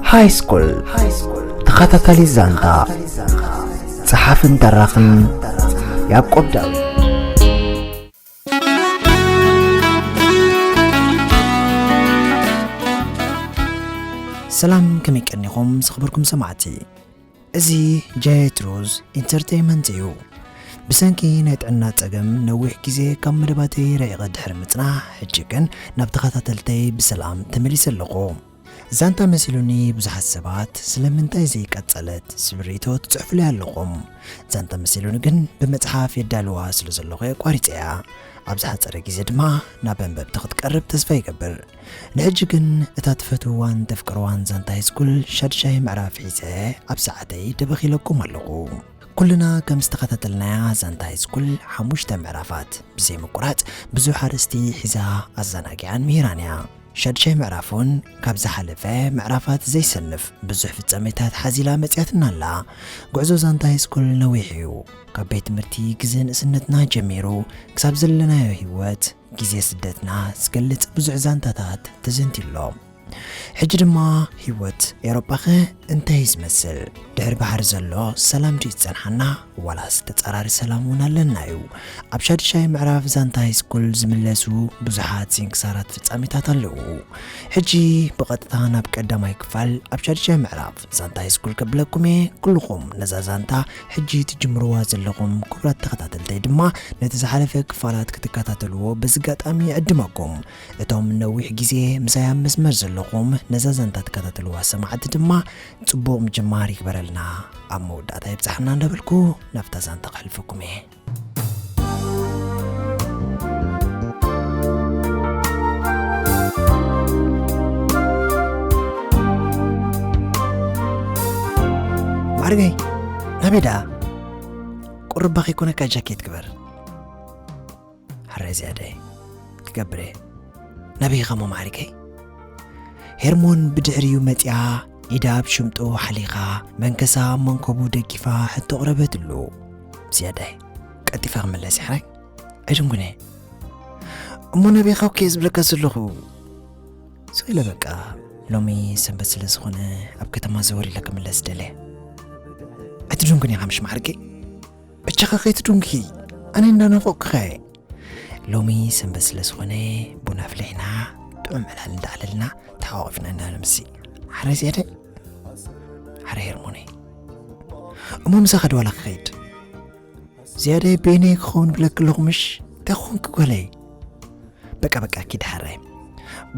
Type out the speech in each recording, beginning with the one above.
ሃይስኩል ተኸታታሊ ዛንታ ጸሓፍን ተራኽን ያዕቆብ ዳዊት ሰላም ከመይ ቀኒኹም ዝኽበርኩም ሰማዕቲ እዚ ጀትሩዝ ኢንተርተይመንት እዩ። ብሰንኪ ናይ ጥዕና ጸገም ነዊሕ ግዜ ካብ መደባተይ ርሒቐ ድሕሪ ምጽናሕ ሕጂ ግን ናብ ተኸታተልተይ ብሰላም ተመሊሰ ኣለኹ። ዛንታ መሲሉኒ ብዙሓት ሰባት ስለምንታይ ዘይቀጸለት ዝብል ሪኢቶ ትጽሕፉለይ ኣለኹም። ዛንታ መሲሉኒ ግን ብመጽሓፍ የዳልዋ ስለዘለኹ ኣቋሪጸያ። ኣብ ዝሓጸረ ግዜ ድማ ናብ ኣንበብቲ ክትቀርብ ተስፋ ይገብር። ንሕጂ ግን እታ ትፈትውዋን ተፍቅርዋን ዛንታ ሃይስኩል ሻድሻይ ምዕራፍ ሒዘ ኣብ ሰዓተይ ደበኺለኩም ኣለኹ። ኩልና ከም ዝተኸታተልናያ ዛንታ ሃይስኩል ሓሙሽተ ምዕራፋት ብዘይ ምቁራጽ ብዙሕ ኣርእስቲ ሒዛ ኣዘናጊዓን ምሂራን እያ። ሻድሻይ ምዕራፍ እውን ካብ ዝሓለፈ ምዕራፋት ዘይሰንፍ ብዙሕ ፍጻሜታት ሓዚላ መጺኣትና ኣላ። ጉዕዞ ዛንታ ሃይስኩል ነዊሕ እዩ። ካብ ቤት ትምህርቲ ግዜ ንእስነትና ጀሚሩ ክሳብ ዘለናዮ ህይወት፣ ግዜ ስደትና ዝገልጽ ብዙሕ ዛንታታት ተዘንትዩ ኣሎ። ሕጂ ድማ ህይወት ኤውሮጳኸ እንታይ እዩ ዝመስል? ድሕሪ ባሕሪ ዘሎ ሰላም ድዩ ዝጸንሓና ዋላስ ተጻራሪ ሰላም እውን ኣለና እዩ? ኣብ ሻድሻይ ምዕራፍ ዛንታ ሃይስኩል ዝምለሱ ብዙሓት ስንክሳራት ፍጻሜታት ኣለዉ። ሕጂ ብቐጥታ ናብ ቀዳማይ ክፋል ኣብ ሻድሻይ ምዕራፍ ዛንታ ሃይስኩል ከብለኩም እየ ኩልኹም ነዛ ዛንታ ሕጂ ትጅምርዋ ዘለኹም ክቡራት ተኸታተልተይ ድማ ነቲ ዝሓለፈ ክፋላት ክትከታተልዎ በዚ ኣጋጣሚ ይዕድመኩም እቶም ነዊሕ ግዜ ምሳይ ኣብ መስመር ዘለኹም ነዛ ዛንታ ትከታተልዋ ሰማዕቲ ድማ ጽቡቕ ምጅማር ይግበረልና ኣብ መወዳእታ ይብጻሕና እንዳበልኩ ናብታ ዛንታ ከሕልፈኩም እየ ማዕርገይ ናበይ ደኣ ቁርባ ከይኮነካ ጃኬት ግበር ሓራይ ዝያዳይ ክገብር እየ ናበይ ኸሞ ማዕርገይ ሄርሞን ብድሕሪኡ መፂኣ ኢዳ ኣብ ሽምጡ ሓሊኻ መንከሳ ኣብ መንኮቡ ደጊፋ ሕቶ ኣቕረበትሉ። ዝያዳይ ቀልጢፈ ክምለስ ይሓይ ኣይድንጉነ እሞ ነቢኻ እኮ ዝብለካ ዘለኹ ስኢለ በቃ ሎሚ ሰንበት ስለ ዝኾነ ኣብ ከተማ ዘወር ኢለ ክምለስ ደለ ኣይትድንጉን ኢኻ ምሽ ማዕርገይ እቻኻ ከይትድንጉ ኣነ እንዳናፈቕኩኻ እየ ሎሚ ሰንበት ስለ ዝኾነ ቡና ኣፍሊሕና ጥዑም ዕላል እንዳዕለልና ተሓቋቒፍና ኢና ንምሲ ሓረ ዜደ ሓረ ሄርሞነ እሞ ምሳ ኸደ ዋላ ክኸይድ ዝያደ ቤነ ክኸውን ብለክ ኣለኹ ምሽ እንታይ ክኾንኪ ጓለይ በቃ በቃ ኪድ ሓረ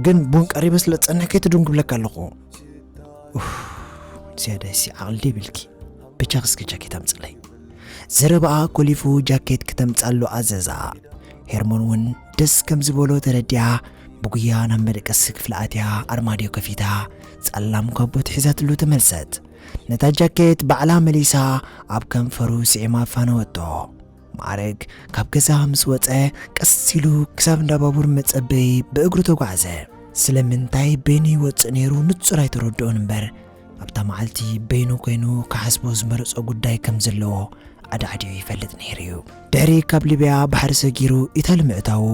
ግን ቡን ቀሪበ ስለ ዝፀንሕ ከይትድንጉ ብለክ ኣለኹ ዝያደ ሲ ዓቕሊ ደይብልኪ ብቻ ክስኪ ጃኬት ኣምፅለይ ዘረባኣ ኮሊፉ ጃኬት ክተምጻሉ ኣዘዛ። ሄርሞን ውን ደስ ከም ዝበሎ ተረዲኣ ብጉያ ናብ መደቀሲ ክፍላ ኣትያ ኣርማድዮ ከፊታ ጸላም ካቦት ሒዛትሉ ተመልሰት። ነታ ጃኬት ባዕላ መሊሳ ኣብ ከንፈሩ ስዒማ ኣፋነወቶ። ማዕረግ ካብ ገዛ ምስ ወጸ ቀስ ኢሉ ክሳብ እንዳ ባቡር መጸበዪ ብእግሩ ተጓዕዘ። ስለምንታይ በይኑ ይወጽእ ነይሩ ንጹር ኣይተረድኦን እምበር ኣብታ መዓልቲ በይኑ ኮይኑ ክሓስቦ ዝመረጾ ጉዳይ ከም ዘለዎ ኣዳዕዲኡ ይፈልጥ ነይሩ እዩ። ድሕሪ ካብ ሊብያ ባሕሪ ሰጊሩ ኢታሊ ምእታዉ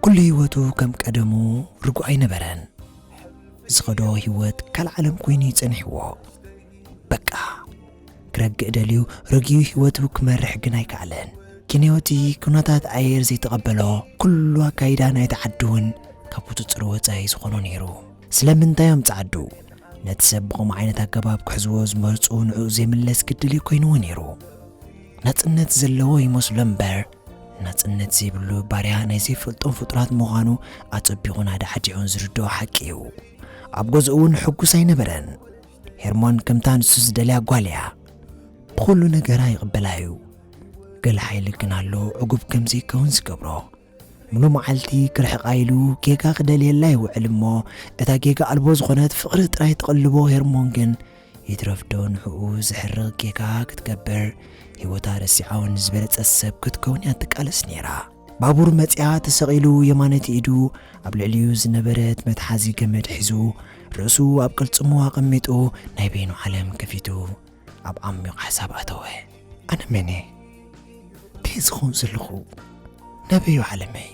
ኩሉ ህይወቱ ከም ቀደሙ ርጉእ ኣይነበረን። ዝኸዶ ህይወት ካልእ ዓለም ኮይኑ እዩ ጸኒሕዎ። በቃ ክረግእ ደልዩ ረጊዩ ህይወቱ ክመርሕ ግን ኣይከኣለን። ኬንዮቲ ኩነታት ኣየር ዘይተቐበሎ ኩሉ ኣካይዳ ናይቲ ዓዲ እውን ካብ ቁጽጽር ወጻኢ ዝኾኖ ነይሩ። ስለምንታይ እዮም ጻዓዱ ነቲ ሰብ ብኸምኡ ዓይነት ኣገባብ ክሕዝዎ ዝመርጹ ንዕኡ ዘይምለስ ግድል እዩ ኮይንዎ ነይሩ ናጽነት ዘለዎ ይመስሎ እምበር ናጽነት ዘይብሉ ባርያ ናይ ዘይፈልጦም ፍጡራት ምዃኑ ኣጸቢቑን ኣዳዕዲዑን ዝርድኦ ሓቂ እዩ ኣብ ገዝኡ እውን ሕጉስ ኣይነበረን ሄርሞን ከምታ ንሱ ዝደልያ ጓል እያ ብኹሉ ነገራ ይቕበላ እዩ ገለ ሓይሊ ግን ኣሎ ዕጉብ ከም ዘይከውን ዝገብሮ ሙሉ መዓልቲ ክርሕቃ ኢሉ ጌጋ ክደልየላ ይውዕል እሞ እታ ጌጋ ኣልቦ ዝኾነት ፍቅሪ ጥራይ ትቅልቦ ሄርሞን ግን ይትረፍ ዶ ንሕኡ ዘሕርቅ ጌጋ ክትገብር ሂወታ ረሲዓ ውን ዝበለጸት ሰብ ክትከውን እያ ትቃለስ ኔራ ባቡር መጽያ ተሰቂሉ የማነቲ ኢዱ ኣብ ልዕሊኡ ዝነበረት መትሓዚ ገመድ ሒዙ ርእሱ ኣብ ቅልጽሙ ኣቀሚጡ ናይ በይኑ ዓለም ከፊቱ ኣብ ዓሚቕ ሓሳብ ኣተወ። ኣነ መን'የ? እንታይ ዝኸውን ዘለኹ? ናበይ'ዩ ዓለመይ?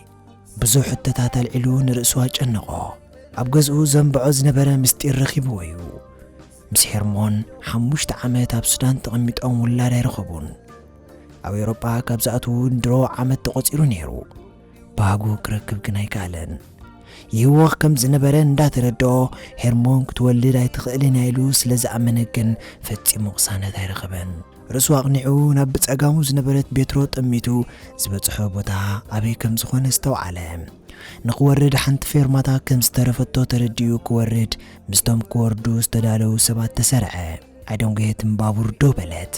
ብዙሕ ሕቶታት ኣልዒሉ ንርእሱ ኣጨነቖ። ኣብ ገዝኡ ዘንብዖ ዝነበረ ምስጢር ረኺብዎ'ዩ። ምስ ሄርሞን ሓሙሽተ ዓመት ኣብ ሱዳን ተቐሚጦም ውላድ ኣይረኸቡን። ኣብ ኤውሮጳ ካብ ዝኣትዉ ድሮ ዓመት ተቖጺሩ ነይሩ። ባህጉ ክረክብ ግን ኣይከኣለን። ይህወኽ ከም ዝነበረ እንዳተረድኦ ሄርሞን ክትወልድ ኣይትኽእልን እያ ኢሉ ስለ ዝኣመነ ግን ፈጺሙ ቅሳነት ኣይረኸበን። ርእሱ ኣቕኒዑ ናብ ብጸጋሙ ዝነበረት ቤትሮ ጠሚቱ ዝበጽሖ ቦታ ኣበይ ከም ዝኾነ ዝተውዓለ ንክወርድ ሓንቲ ፌርማታ ከም ዝተረፈቶ ተረዲኡ ክወርድ ምስቶም ክወርዱ ዝተዳለዉ ሰባት ተሰርዐ ኣይደንጎየትን ባቡር ደው በለት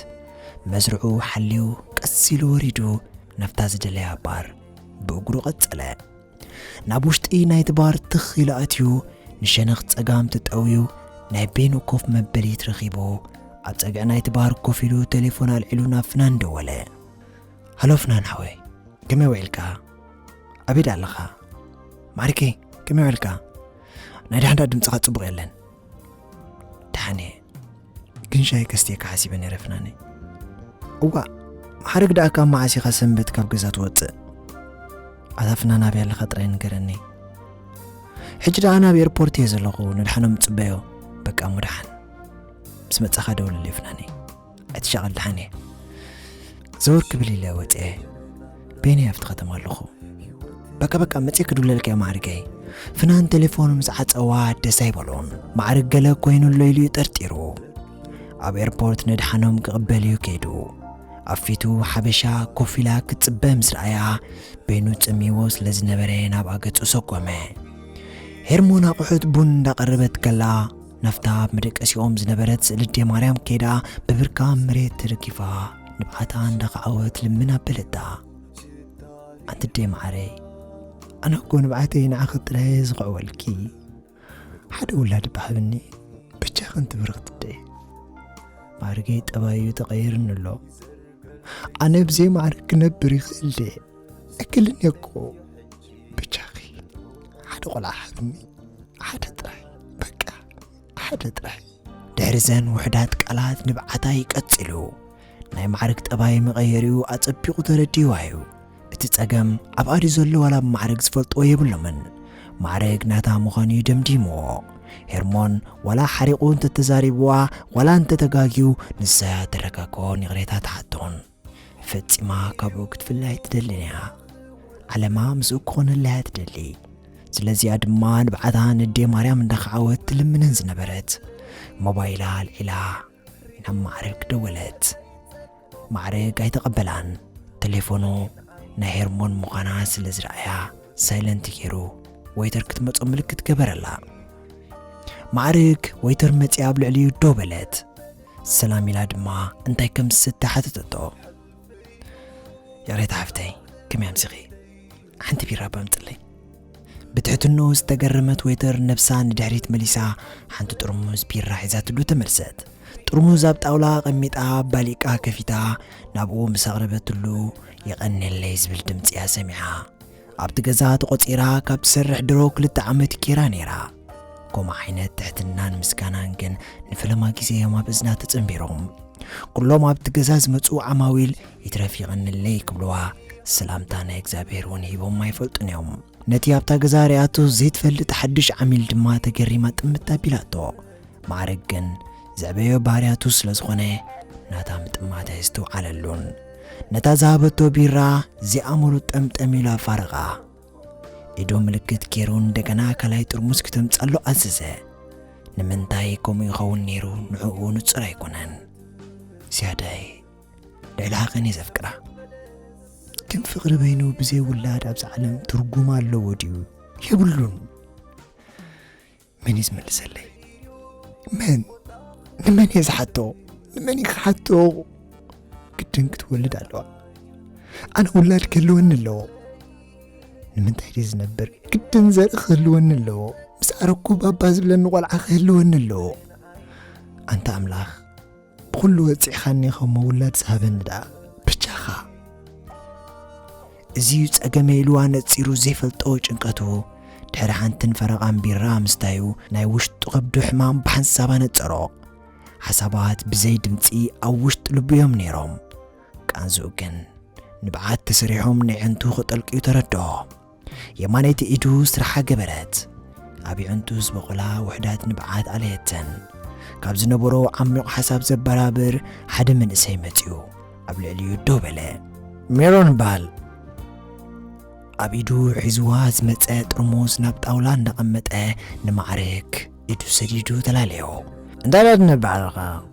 መስርዑ ሓልዩ ቀስ ኢሉ ወሪዱ ናብታ ዝደለያ ባር ብእግሩ ቀጸለ። ናብ ውሽጢ ናይቲ ባር ትኽ ኢሉ ኣትዩ ንሸነኽ ጸጋም ተጠውዩ ናይ ቤኑ ኮፍ መበሊት ረኺቡ ኣብ ጸግዒ ናይቲ ባር ኮፍ ኢሉ ቴሌፎን ኣልዒሉ ናብ ፍናን ደወለ። ሃሎ ፍናን ሓወይ ከመይ ውዒልካ? ኣበይ ዳ ኣለኻ? ማዕሪከይ ከመይ ውዒልካ? ናይ ዳሕንዳ ድምፅኻ ጽቡቕ የለን። ደሓን እየ ግን ሻይ ከስትየካ ሓሲበ ነይረ ፍናነይ እዋ ሓረግ ደኣ ካብ መዓስ ኢኻ ሰንበት ካብ ገዛ ትወፅእ ኣታ ፍናን ኣብያ ኣለኻ ጥራይ ንገረኒ ሕጂ ደኣ ናብ ኤርፖርት እየ ዘለኹ ንድሓኖም ፅበዮ በቃ ሙድሓን ምስ መፃኻ ደውለለይ ፍናነይ ኣይትሻቐል ደሓን እየ ዘወር ክብል ኢለ ወፅኤ ቤኒ ኣብቲ ከተማ ኣለኹ በቃ በቃ መፅእ ክድውለልካ እየ ማዕርገይ ፍናን ቴሌፎኑ ምስ ዓፀዋ ደስ ኣይበሎን ማዕርግ ገለ ኮይኑ ኣሎ ኢሉ እዩ ጠርጢሩ ኣብ ኤርፖርት ነድሓኖም ክቕበል እዩ ከይዱ ኣብ ፊቱ ሓበሻ ኮፍ ኢላ ክትፅበ ምስ ረኣያ በይኑ ፅምይዎ ስለ ዝነበረ ናብ ኣገፁ ሰጎመ ሄርሞን ኣቑሑት ቡን እንዳቐረበት ከላ ናብታ ኣብ መደቀሲኦም ዝነበረት ስእሊ ኣዴ ማርያም ከይዳ ብብርካ ኣብ መሬት ተደጊፋ ንብዓታ እንዳኸዓወት ልምን ኣበለታ ኣንቲ ኣዴ መዓረይ ኣነ እኮ ንብዓተይ ንዓኺ ጥራየ ዝኽዕወልኪ ሓደ ውላድ ብሃብኒ ብቻ ከንቲ ብርኽቲ ደይ ማርገይ ጠባዩ ተቐይርኒ ኣሎ ኣነ ብዘይ ማዕረ ክነብር ይኽእል ድየ እክልን እኮ ብቻኺ ሓደ ቆልዓ ሃብኒ ሓደ ጥራይ በቃ ሓደ ጥራይ ድሕሪዘን ውሕዳት ቃላት ንብዓታይ ቀጺሉ ናይ ማዕርግ ጠባይ መቐየሪኡ ኣጸቢቑ ተረዲዋ እዩ እቲ ጸገም ኣብ ኣዲ ዘሎ ዋላ ብ ማዕረግ ዝፈልጥዎ የብሎምን ማዕረግ ናታ ምዃኑ እዩ ደምዲምዎ ሄርሞን ዋላ ሓሪቑ እንተተዛሪብዋ ዋላ እንተተጋግዩ ንሳያ ተረጋግኦን ይቕሬታ ትሓቶን ፈጺማ ካብኡ ክትፍለ ኣይትደልን እያ ዓለማ ምስኡ ክኾነላ እያ ትደሊ ስለዚኣ ድማ ንብዓታ ንዴ ማርያም እንዳኸዓወት ትልምነን ዝነበረት ሞባይላ ኣልዒላ ናብ ማዕርግ ደወለት ማዕርግ ኣይተቐበላን ቴሌፎኑ ናይ ሄርሞን ምዃና ስለ ዝረኣያ ሳይለንት ገይሩ ወይተር ክትመጾ ምልክት ገበረላ ማዕርግ ወይተር መጺኣ ኣብ ልዕሊኡ ደው በለት ሰላም ኢላ ድማ እንታይ ከም ዝስተ ሓተተቶ ይቕሬታ ሓፍተይ ከመይ ኣምሲኺ ሓንቲ ቢራ በምጽለይ ብትሕትንኡ ዝተገረመት ወይተር ነብሳ ንድሕሪት መሊሳ ሓንቲ ጥርሙዝ ቢራ ሒዛትሉ ተመልሰት ጥርሙዝ ኣብ ጣውላ ኣቐሚጣ ባሊቃ ከፊታ ናብኡ ምስ ኣቕረበትሉ የቐነለይ ዝብል ድምፂ እያ ሰሚዓ ኣብቲ ገዛ ተቖፂራ ካብ ትሰርሕ ድሮ ክልተ ዓመት ኬራ ነይራ ከምኡ ዓይነት ትሕትናን ምስጋናን ግን ንፈለማ ግዜ እዮም ኣብ እዝና ተጸንቢሮም ኩሎም ኣብቲ ገዛ ዝመጹ ዓማዊል ይትረፍ ይቐንለይ ክብልዋ ሰላምታ ናይ እግዚኣብሔር እውን ሂቦም ኣይፈልጡን እዮም ነቲ ኣብታ ገዛ ርያቶ ዘይትፈልጥ ሓድሽ ዓሚል ድማ ተገሪማ ጥምት ኣቢላቶ ማዕረግ ግን ዘዕበዮ ባህርያቱ ስለ ዝኾነ ናታ ምጥማት ኣይዝተውዓለሉን ነታ ዝሃበቶ ቢራ ዚኣምሩ ጠምጠም ኢሉ ኣፋረቓ ኢዱ ምልክት ገይሩ እንደገና ካልኣይ ጥርሙስ ክተምጻሉ ኣዘዘ ንምንታይ ከምኡ ይኸውን ነይሩ ንዕኡ ንጹር ኣይኮነን ዝያዳይ ልዕሊ ሃቐን እየ ዘፍቅራ ግን ፍቕሪ በይኑ ብዘይ ውላድ ኣብዚ ዓለም ትርጉም ኣለዎ ድዩ የብሉን መን እዩ ዝምልሰለይ መን ንመን እየ ዝሓቶ ንመን እዩ ክሓቶ ግድን ክትወልድ ኣለዋ ኣነ ውላድ ክህልወኒ ኣለዎ ንምንታይ ድዩ ዝነብር ግድን ዘርኢ ክህልወኒ ኣለዎ ምስ ኣረኩ ባባ ዝብለኒ ቆልዓ ክህልወኒ ኣለዎ ኣንታ ኣምላኽ ብኹሉ ወጺዕኻኒ ከም ምውላድ ዝሃበኒ ደኣ ብቻኻ። እዚዩ ጸገመይ ኢሉ ኣነጺሩ ዘይፈልጦ ጭንቀቱ ድሕሪ ሓንትን ፈረቓን ቢራ ምስታዩ ናይ ውሽጡ ከብዱ ሕማም ብሓንሳብ ኣነጸሮ። ሓሳባት ብዘይ ድምጺ ኣብ ውሽጢ ልቡ እዮም ነይሮም። ቃንዝኡ ግን ንብዓት ተሰሪሖም ነዐንቱ ክጠልቅዩ ተረድኦ። የማነይቲ ኢዱ ስራሓ ገበረት። ኣብ የዕንቱ ዝበቖላ ውሑዳት ንብዓት ኣለየተን። ካብ ዝነበሮ ዓሚቝ ሓሳብ ዘበራብር ሓደ መንእሰይ መጺኡ ኣብ ልዕሊኡ ደው በለ። ሜሮን ባል! ኣብ ኢዱ ሒዝዋ ዝመጸ ጥርሙዝ ናብ ጣውላ እንዳቐመጠ ንማዕርግ ኢዱ ሰዲዱ ተላለዮ። እንታይ ዳትነብዕ ኣለኻ?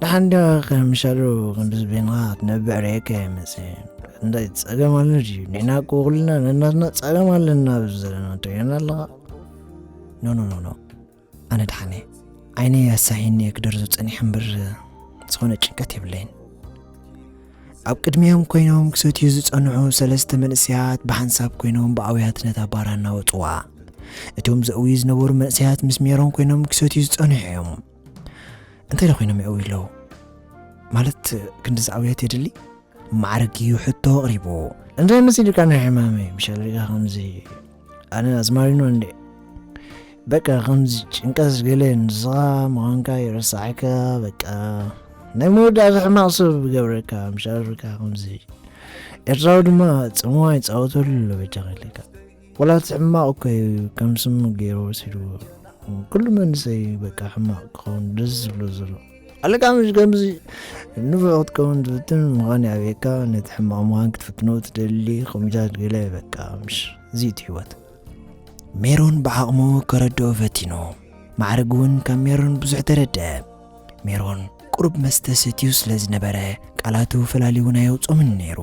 ንሓንዲ ከምሻሉ ክንድዚ ቤንኻ ክትነብዕ ርኤካ ይመፅእ እንታይ ፀገም ኣሎ ድዩ ንሕና እኮ ኩልና ነናትና ፀገም ኣለና ኣብዚ ዘለና ትሪኦና ኣለኻ ኖኖኖኖ ኣነ ድሓነ ዓይነ ኣሳሒኒ ክደርዞ ፀኒሐ እምበር ዝኾነ ጭንቀት የብለይን ኣብ ቅድሚኦም ኮይኖም ክሰትዩ ዝፀንሑ ሰለስተ መንእሰያት ብሓንሳብ ኮይኖም ብኣውያት ነታ ባራ እናወፅዋ እቶም ዘእውዩ ዝነበሩ መንእሰያት ምስ ሜሮን ኮይኖም ክሰትዩ ዝፀንሑ እዮም እንታይ ኮይኖም ይዕውዩ ኣለዉ ማለት ክንዲ ዝዓብዮት የድሊ ማዕርግ እዩ ሕቶ ኣቕሪቡ እንታይ መሲልካ ናይ ሕማመ ምሻለካ ከምዚ ኣነ ኣዝማሪኖ እንዴ በቃ ከምዚ ጭንቀት ገለ ንስኻ ምዃንካ ይረሳዕካ በቃ ናይ መወዳእታ ሕማቕ ሰብ ገብረካ ምሻለካ ከምዚ ኤርትራዊ ድማ ጽምዋ ይፃወተሉ ኣሎ በጃ ከለካ ወላ እቲ ሕማቕ እኮ እዩ ከም ስሙ ገይሩ ወሲድዎ ኩሉ መንእሰይ እዩ በቃ ሕማቕ ክኸውን ደስ ዝብሎ ዘሎ ኣለካ ምሽ ከምዚ ንፉዕ ክትከውን ትፍትን ምዃን ይኣብየካ ነቲ ሕማቕ ምዃን ክትፍትኖ ትደሊ ከምኡታት ገለ በቃ ምሽ እዚ እቲ ህይወት ሜሮን ብዓቕሙ ከረድኦ ፈቲኑ ማዕርግ እውን ካብ ሜሮን ብዙሕ ተረድአ ሜሮን ቁሩብ መስተ ሰትዩ ስለ ዝነበረ ቃላቱ ፈላሊውን ኣየውጾምን ነይሩ።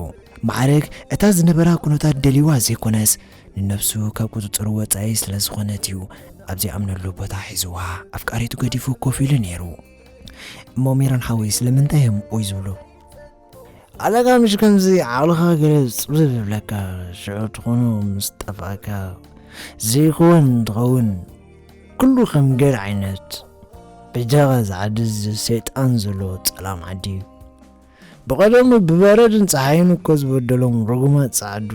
ማዕርግ እታ ዝነበራ ኩነታት ደልዩዋ ዘይኮነስ ንነብሱ ካብ ቁጽጽሩ ወጻኢ ስለ ዝኾነት እዩ ኣብ ዘይኣምነሉ ቦታ ሒዙዋ ኣፍቃሪቱ ገዲፉ ኮፍ ኢሉ ነይሩ። እሞ ሜሮን ሓወይ ስለምንታይ እዮም ኦይ ዝብሉ? ኣለካ ምሽ ከምዚ ዓቕልኻ ገለ ጽብብ ይብለካ ሽዑ ትኾኖ ምስ ጠፍኣካ ዘይኮወን እንትኸውን ኩሉ ከም ገር ዓይነት በጃኻ ዝዓዲ ሰይጣን ዘለዎ ጸላም ዓዲ እዩ ብቐደሙ ብበረድን ፀሓይን እኮ ዝበደሎም ርጉማት ጸዓዱ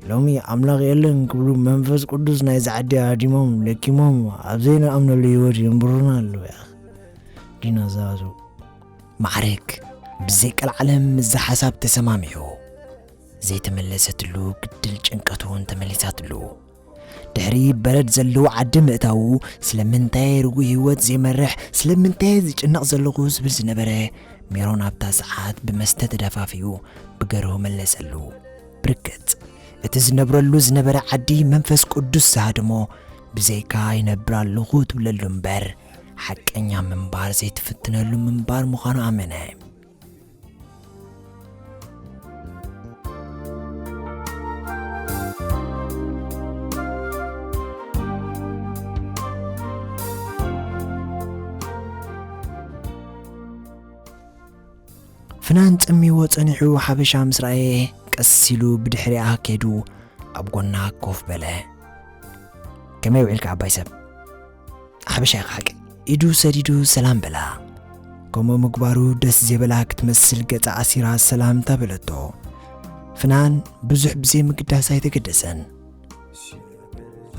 ሎሚ ኣምላኽ የለን ክብሉ መንፈስ ቅዱስ ናይ ዝዓዲ ሃዲሞም ለኪሞም ኣብ ዘይንኣምነሉ ህይወት የንብሩና ኣለዉ ያ ዲናዛቱ ማዕረግ ብዘይ ቀልዓለም ምስዛ ሓሳብ ተሰማሚዑ። ዘይተመለሰትሉ ግድል ጭንቀት'ውን ተመሊሳትሉ። ድሕሪ በረድ ዘለዎ ዓዲ ምእታዉ ስለምንታይ ርጉእ ህይወት ዘይመርሕ ስለምንታይ ዝጭነቕ ዘለኹ ዝብል ዝነበረ ሜሮን ኣብታ ሰዓት ብመስተ ተደፋፊኡ ብገርሁ መለሰሉ። ብርግጽ እቲ ዝነብረሉ ዝነበረ ዓዲ መንፈስ ቅዱስ ዝሃድሞ ብዘይካ ይነብር ኣለኹ ትብለሉ እምበር ሓቀኛ ምንባር ዘይትፍትነሉ ምንባር ምዃኑ ኣመነ። ፍናን ጸሚዎ ጸኒሑ ሓበሻ ምስ ረኣየ ቀስ ኢሉ ብድሕሪኣ ከይዱ ኣብ ጎና ኮፍ በለ። ከመይ ውዒልካ ዓባይ ሰብ? ሓበሻ ኢኻ ሓቂ ኢዱ ሰዲዱ ሰላም በላ ከምኡ ምግባሩ ደስ ዜበላ ክትመስል ገጻ ኣሲራ ሰላምታ በለቶ ፍናን ብዙሕ ብዘይ ምግዳስ ኣይተገደሰን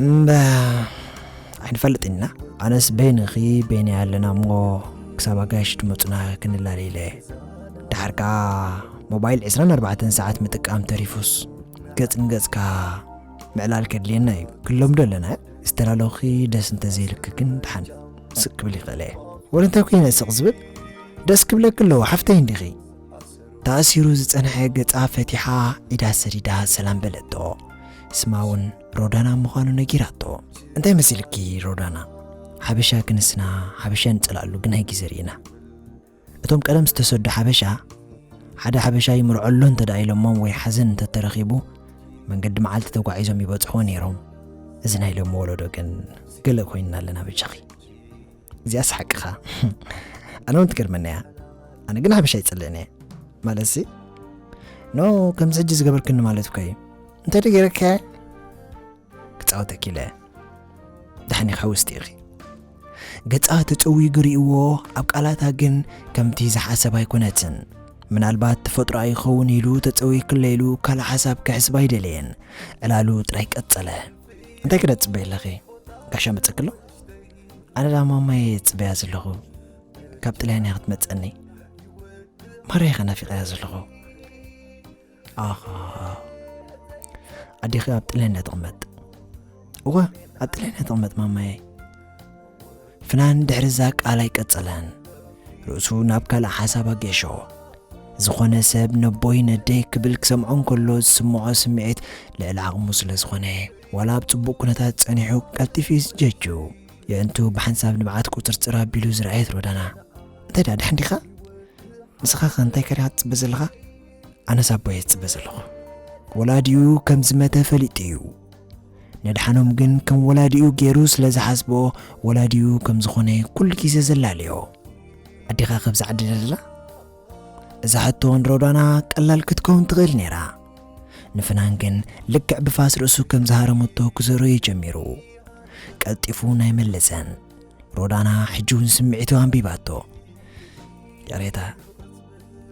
እምበ ኣይንፈልጥን ኢና ኣነስ በይንኺ በይነ ኣለና እሞ ክሳብ ኣጋይሽ ድመፁና ክንላለ ኢለ ድሓር ከዓ ሞባይል 24 ሰዓት ምጥቃም ተሪፉስ ገፅ ንገፅካ ምዕላል ከድልየና እዩ ክለምዶ ኣለና ዝተላለኹኺ ደስ እንተዘይልኪ ግን ድሓን ስቅ ክብል ይኽእል እየ ወደ እንታይ ኮይነ ስቅ ዝብል ደስ ክብለኪ ኣለዎ ሓፍተይ እንዲኺ ተኣሲሩ ዝጸንሐ ገጻ ፈቲሓ ኢዳ ሰዲዳ ሰላም በለቶ ስማ እውን ሮዳና ምዃኑ ነጊራቶ እንታይ መሲልኪ ሮዳና ሓበሻ ክንስና ሓበሻ ንጸላሉ ግን ሃይ ግዜ ርኢና እቶም ቀደም ዝተሰዱ ሓበሻ ሓደ ሓበሻ ይምርዖ ኣሎ እንተ ደኣ ኢሎሞም ወይ ሓዘን እንተ ተረኺቡ መንገዲ መዓልቲ ተጓዒዞም ይበጽሕዎ ነይሮም። እዚ ናይ ሎሚ ወለዶ ግን ገለ ኮይንና ኣለና ብጃኺ። እዚኣስ ሓቅኻ ኣነ እውን ትገርመኒ እያ። ኣነ ግን ሓበሻ ይጽልእን እየ ማለትሲ ኖ ከምዚ ሕጂ ዝገበርክኒ ማለት እኮ እዩ እንታይ ደገረከ ክጻወተኪ ኢለ ዳሕኒ ካብ ውስጢኺ ገጻ ተጨዊጉ ርእይዎ ኣብ ቃላታ ግን ከምቲ ዝሓሰብ ኣይኮነትን ምናልባት ተፈጥሮ ኣይኸውን ኢሉ ተጸዊክለ ኢሉ ካልእ ሓሳብ ክሕስብ ኣይደለየን ዕላሉ ጥራይ ቀጸለ እንታይ ክደ ጽበ ኣለኺ ጋሻ መጸክሎ ኣነ ዳማ ማየ ጽበያ ዘለኹ ካብ ጥልያን ክትመጸኒ ማርያ ከናፊቐያ ዘለኹ ኣኻ ኣዴኺ ኣብ ጥልያን እያ ትቕመጥ እወ ኣብ ጥልያን እያ ትቕመጥ ማማየ ፍናን ድሕሪ እዛ ቃል ኣይቀጸለን ርእሱ ናብ ካልእ ሓሳብ ኣጌሾ ዝኾነ ሰብ ነቦይ ነደይ ክብል ክሰምዖ እንከሎ ዝስምዖ ስምዒት ልዕሊ ዓቕሙ ስለ ዝኾነ ዋላ ኣብ ጽቡቕ ኩነታት ጸኒሑ ቀልጢፉ እዩ ዝጀጁ የእንቱ ብሓንሳብ ንብዓት ቁፅርፅር ኣቢሉ ዝረኣየት ሮዳና እንታይ ደኣ ድሓን ዲኻ ንስኻ ከ እንታይ ከሪኻ ትፅበ ዘለኻ ኣነስ ኣቦየ ዝፅበ ዘለኹ ወላዲኡ ከም ዝመተ ፈሊጡ እዩ ነድሓኖም ግን ከም ወላዲኡ ገይሩ ስለ ዝሓስቦ ወላዲኡ ከም ዝኾነ ኩሉ ግዜ ዘላለዮ ኣዴኻ ከብዛ ዓዲ ደላ እዛ ሕቶ ንሮዳና ቀላል ክትከውን ትኽእል ነይራ ንፍናን ግን ልክዕ ብፋስ ርእሱ ከም ዝሃረመቶ ክዘሮ እዩ ጀሚሩ ቀልጢፉ ናይ መለሰን ሮዳና ሕጂ እውን ስምዒቱ ኣንቢባቶ ይቕሬታ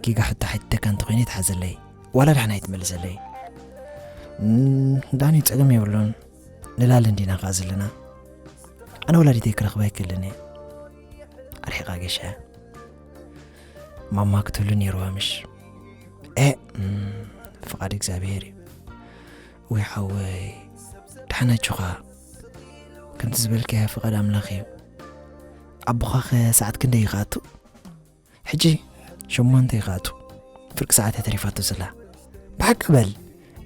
ጌጋ ሕቶ ሓቲተካ እንተኾይነ ይትሓዘለይ ዋላ ዳሕና ይትመልሰለይ ዳኒ ጸገም የብሉን ንላለ እንዲና ከኣ ዘለና ኣነ ወላዲተይ ክረኽባ ይክልን እየ ኣርሒቓ ገሸ ማማ ክትህሉ ነይርዋ ምሽ እ ፍቓድ እግዚኣብሄር እዩ ወይ ሓወይ ድሓናችኻ ከምቲ ዝበልካያ ፍቓድ ኣምላኽ እዩ ኣቦኻኸ ሰዓት ክንደይ ይኸኣቱ ሕጂ ሸሞንተ እዩ ክኣቱ ፍርቂ ሰዓት እያ ተሪፋቶ ዘላ ብሓቂ በል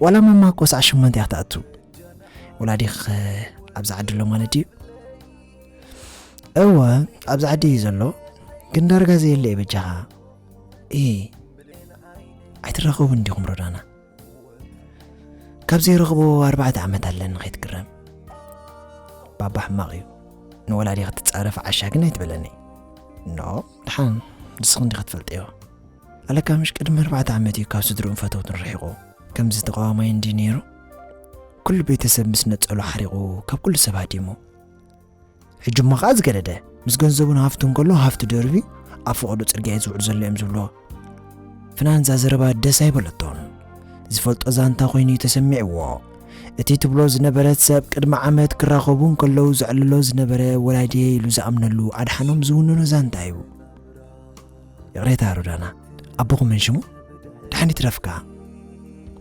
ዋላ ማማ እኮ ሰዓት ሸሞንተ እያ ክትኣቱ ወላዲኽ ኣብዚ ዓዲ ኣሎ ማለት ድዩ እወ ኣብዚ ዓዲ እዩ ዘሎ ግን ዳርጋ ዘየለ እዩ በጃኻ እይ ኣይትራኸቡ እንዲኹም ሮዳና ካብ ዘይረኽቦ ኣርባዕተ ዓመት ኣለኒ ከይትግረም ባባ ሕማቕ እዩ ንወላዲ ክትፃረፍ ዓሻ ግን ኣይትበለኒ ኖ ድሓን ንስኽ እንዲ ክትፈልጥዮ ኣለካ ምሽ ቅድሚ ኣርባዕተ ዓመት እዩ ካብ ስድርኡን ፈተውትን ርሒቑ ከምዚ ተቃዋማይ እንዲ ነይሩ ኩሉ ቤተሰብ ምስ ነፀሉ ሓሪቑ ካብ ኩሉ ሰብ ሃዲሙ ሕጂ እሞ ከኣ ዝገደደ ምስ ገንዘቡን ሃፍቱን ከሎ ሃፍቲ ደርብዩ ኣብ ፈቐዶ ጽርግያ እዩ ዝውዕል ዘሎ እዮም ዝብልዎ ፍናን እዛ ዘረባ ደስ ኣይበለቶን ዝፈልጦ ዛንታ ኮይኑ እዩ ተሰሚዕዎ እቲ ትብሎ ዝነበረት ሰብ ቅድሚ ዓመት ክራኸቡ እንከለዉ ዘዕልሎ ዝነበረ ወላዲየ ኢሉ ዝኣምነሉ ኣድሓኖም ዝውንኖ ዛንታ እዩ ይቕሬታ ሮዳና ኣቦኹም መን ሽሙ ድሓን ይትረፍካ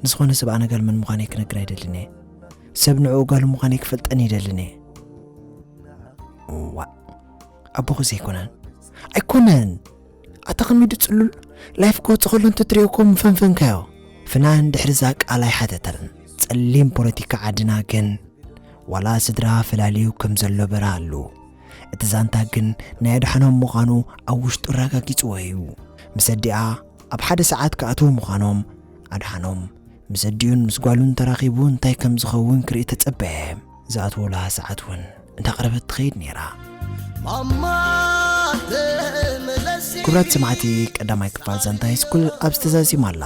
ንዝኾነ ሰብ ኣነጋል መን ምዃነይ ክነግር ኣይደልን እየ ሰብ ንዕኡ ጋሉ ምዃነይ ክፈልጠን ይደልን እየ ዋእ ኣቦኹ ዘይኮነን ኣይኮነን ኣታ ከሚዱ ጽሉል ላይፍ ክወጽእ ከሎ እንተትሪኦ እኮ ምፈንፈንካዮ ፍናን ድሕሪዛ ቃል ኣይሓተተን ጸሊም ፖለቲካ ዓድና ግን ዋላ ስድራ ፈላልዩ ከም ዘሎ በራ ኣሉ እቲ ዛንታ ግን ናይ ኣድሓኖም ምዃኑ ኣብ ውሽጡ ኣረጋጊጽዎ እዩ ምስ ኣዲኣ ኣብ ሓደ ሰዓት ክኣትዉ ምዃኖም ኣድሓኖም ምስ ኣዲኡን ምስ ጓሉን ተራኺቡ እንታይ ከም ዝኸውን ክርኢ ተጸበየ። ዝኣትወላ ሰዓት እውን እንዳቕረበት ትኸይድ ነይራ። ክብራት ሰማዕቲ ቀዳማይ ክፋል ዛንታ ሃይስኩል ኣብ ዝተዛዚም ኣላ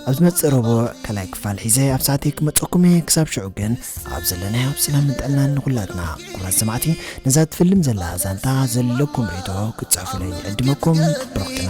ኣብ ዝመፅእ ረቡዕ ካልኣይ ክፋል ሒዘ ኣብ ሰዓተይ ክመፀኩም እየ ክሳብ ሽዑ ግን ኣብ ዘለናዮ ኣብ ሰላምን ጥዕናን ንኹላትና ኩብራት ሰማዕቲ ነዛ ትፍልም ዘላ ዛንታ ዘለኩም ርእቶ ክትፅሕፉለይ ይዕድመኩም ብሩኽትና